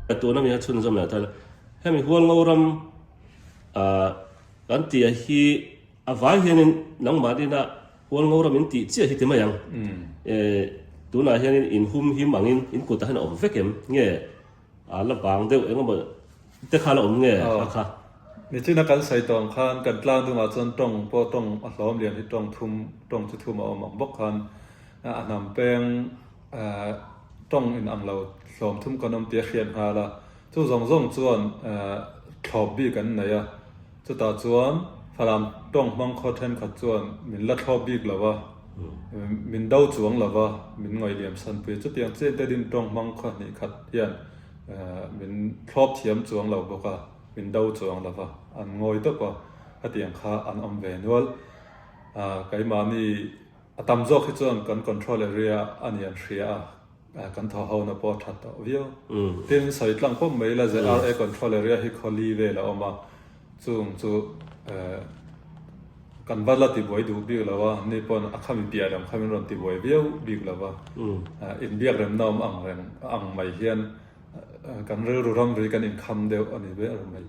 Ka tuna mi a chhunzawm leh tal. Hemi hualngo ram kan tia hi a vai hianin nangmah nena hualngo ram in tih chiah hi ti mai ang. Tunah hianin inhum him angin in kutah hian a awm vek em? Nge A la bang deuh engemaw te kha a la awm nge kha kha. Nichin a kan sawi tawng khan kan tlang dungah chuan tawng pawh tawng a hlawm lian hi tawng thum tawng chu thum a awm ang bawk khan a hnam peng tawng in ang lo hlawm thum kan awm tia hriat nghal a chu zawng zawng chuan thlawp bik an nei a. Chutah chuan Falam tawng hmang khaw thenkhat chuan min la thlawp bik lo a, min do chuang lo a, min ngawihliam sanpui a, chutiang chian te ding tawng hmang khaw hnih khat hian min thlawp thiam chuang lo bawk a, min do chuang lo a, an ngawi tawp a, hetiang kha an awm ve nual. Keimahni a tam zawk hi chuan kan control area a nih an hria a. Kan thoho na pawh a that tawh viau. Tin, sawi tlang pawm mai ila ZRA control area hi khaw li vel a awm a, chung chu kan va la ti buai duh bik lo a, ni pawn a kha mi piah reng kha min rawn ti buai viau bik lo a. In biak rem na awm ang reng a ang mai hian kan rilru ramri kan in kham deuh a ni ber mai.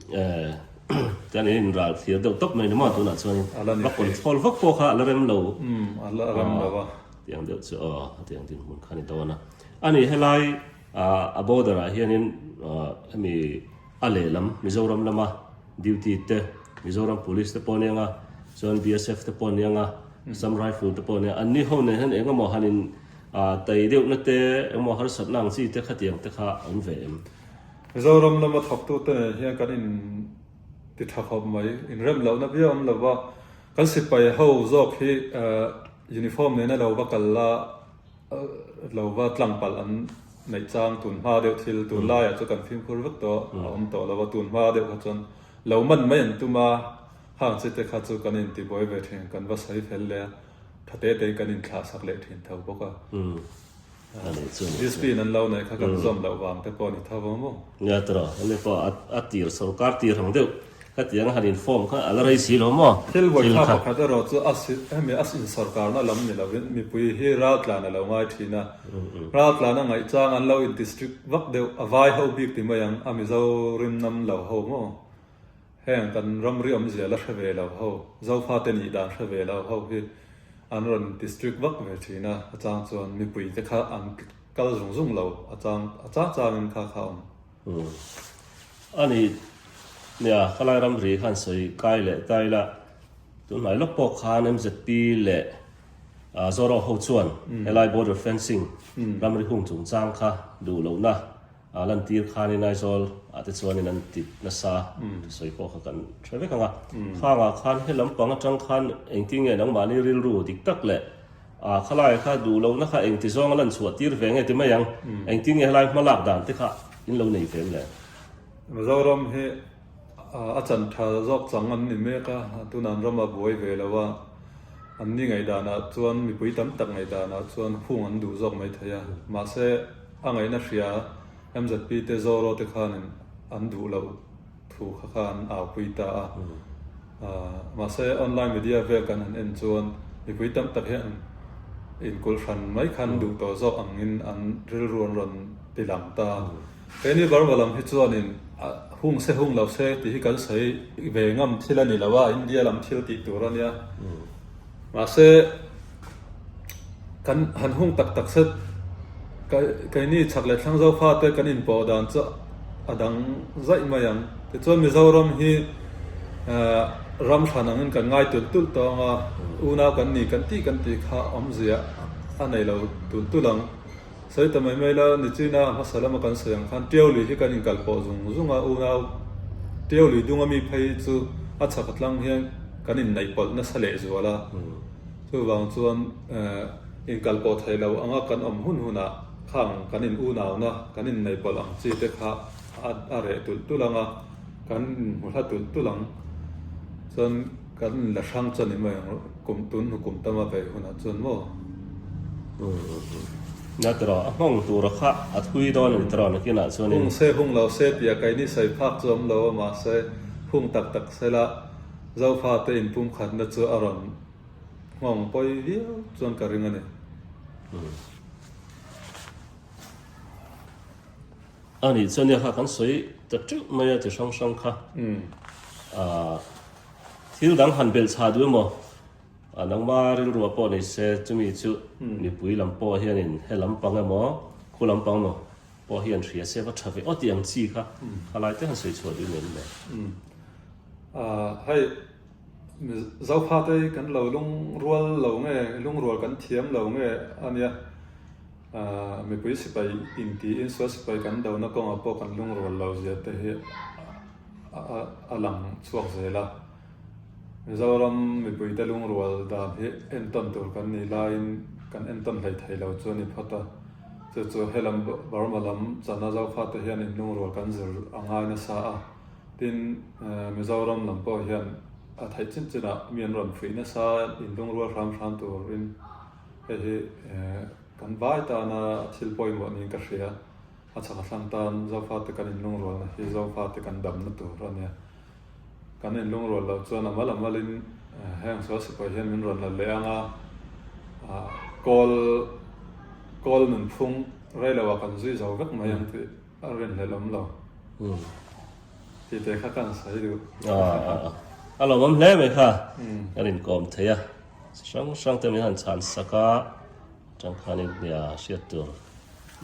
Kan in inral thlir deuh tawp mai ni maw tunah chuan in va control vak pawh kha a la rem lo. A la rem lo a. Ti ang deuh chu aw a ti ang tih hmun kha a ni dawn a. A ni helai a border ah hianin hemi a lehlam Mizoram lama duty te Mizoram police te pawh a ni ang a, chuan BSF te pawh a ni ang a, Assam Rifle te pawh a ni ang a. An ni ho nen hian eng emaw han in tei deuh na te eng emaw harsat na ang chi te khatiang te kha a awm ve em? Mizoram lama thawktu te nen hian kan in. Ti tha khawp mai. Inrem lohna viau an lo va. Kan sipai ho zawk hi uniform nena lo va kal la, lo va tlangpalh an neih chang. Tun hma deuh thil, tun laiah chu kan fimkhur vek tawh a awm tawh lo va. Tun hma deuh kha chuan lo man mai an tum a. Hang chi te kha chu kan intibuai ve thin, kan va sawi fel leh a, tha te tein kan inthlahsak leh thintho bawk a. Discipline an lo nei kha kan zawm loh vang te pawh a ni tho ang maw? Nia tawrh a, hemi pawh a tir sawrkar tir ang deuh khatiang a han inform kha a la raise hi lo maw? Thil vawikha pakhat erawh chu a si, hemi a insawrkarna lam ni lovin mipui hi raltlan a lo ngai thin a, raltlan a ngaih chang an lo intistrict vak deuh, a vai ho bik ti mai ang a Mizo rimnam lo ho maw? Heng kan ram riawmzia la hre ve lo ho, Zofa te nih dan hre ve lo ho hi an rawn ti strict vak ve thin a, a chang chuan mipui te kha an kal zung zung lo, a chang a chang chang in kha kha awm. Umm a ni nia, ka lai ram ri khan sawi kai leh kai la, tun hnai lawk pawh khan MZP leh Zorawk ho chuan helai border fencing ram ri hung chungchang kha duh lohna A lan tir khanin Aizawl ah te chuan in an ti nasa ka sawi pawh kha kan hre vek ang a. Khang ah khan he lam pang atang khan engtin nge nangmahni rilru dik tak leh a khalaia kha duh lohna kha engti zawng a lan chhuah tir ve nge ti mai ang, engtin nge helai hmalak dan te kha in lo nei ve em le? Mizoram hi A chantha zawk chang an ni mek a, a tun an ram a buai ve lo a, an ni ngaihdanah chuan mipui tam tak ngaihdanah chuan hung an duh zawk mai thei a, mahse a ngaihna hria MZP te Zorro te khanin an duh loh thu kha khan a aupui ta a, mahse online media vel kan han en chuan mipui tam tak hian inkulh hran mai khan duh tawh zawk angin an rilru an rawn ti lang ta. He ni varva lam hi chuanin hung se hung lo se tih hi kan sawi ve ngam thil a ni lo a, India lam thil tih tur a nia. Mahse, kan han hung tak tak se keini chak leh thlang zohkha te kan inpoh dan chu a dang zaih mai ang. Tichuan Mizoram hi ram hran angin kan ngai tulh tulh tawh ang a, unau kan ni kan tih kan tih kha awmzia a nei lo tulh tulh ang. Sawi ta mai mai la, Nichuina a hmasa lama kan sawi ang khan Teo Li hi kan inkal pawh zung zung a, unau Teo Li dunga mi phei chu a chhaka tlang hian kan inneihpawlh nasa lehzual a, chuvang chuan inkal pawh theih lo anga kan awm hun hunah kha ang kan in unauna, kan inneihpawlh ang chi te kha a reh tulh tulh ang a, kan inhmuhla tulh tulh ang. Chuan. Kan la hrang chuan i mai ang kum tun hukum tama vei hunah chuan maw? Nge tiraw, a nghawng tura kha a thui dawn a ni tiraw nakinah chuan in. Hung se hung lo se tih a kai ni sawi phak chu awm lo a mahse hung tak tak sela Zofate in pumkhatna chu a rawn nghawng pawi viau chuan ka ring a ni. A nih chuan nia kha kan sawi ta teuh mai a chi hrang hrang kha. Thil dang han belh chhah duh emaw? Nangma rilrua pawh ni se chumi chu mipui lam pawh hian in he lam pang emaw, khu lam pang emaw pawh hi an hria se va tha ve aw tih ang chi kha khalai te han sawi chhuah duh nen mai. Zokhâ te kan lo lung rual lo nge, lung rual kan thiam lo nge a nia. Mipui sipai intiin saw sipai kan dona kawngah pawh kan lung rual lo zia te hi a lang chhuak zel a. Mizoram mipuite lung rual dan hi entawn tur kan nih laiin kan entawn hleithei lo chu a ni phawt a. Chu chu helam Burma lam chana Zokhâ te hian in lung rual kan zir a ngai nasa a. Tin, Mizoram lam pawh hian a theih chin chin ah mi an rawn fuih nasa in lung rual hram hram tur in hei hi kan vai tan a thil pawimawh niin ka hria. A chhak a thlang tan Zofa te kan in lung rual na hi Zofa te kan dam na tur a nia. Kan in lung rual lo chuan a mal a mal in heng sual sipuai hian min rawn la leh ang a, kawl kawl nunphung rei lo ah kan zui zo vek mai ang tih. A rin leh lawm lo. Umm. Tihte kha kan sawi duh. Aah. A lo awm hle mai kha. Umm. Kan inkawm thei a. Chi hrang hrang te min han chhan sak a, tangkhanin hnia hriat tur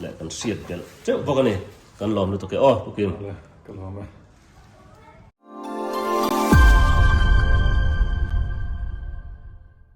leh kan hriat belh teuh bawk a ni. Kan lawm lutuk e aw Pukim. Vale, ka lawm e.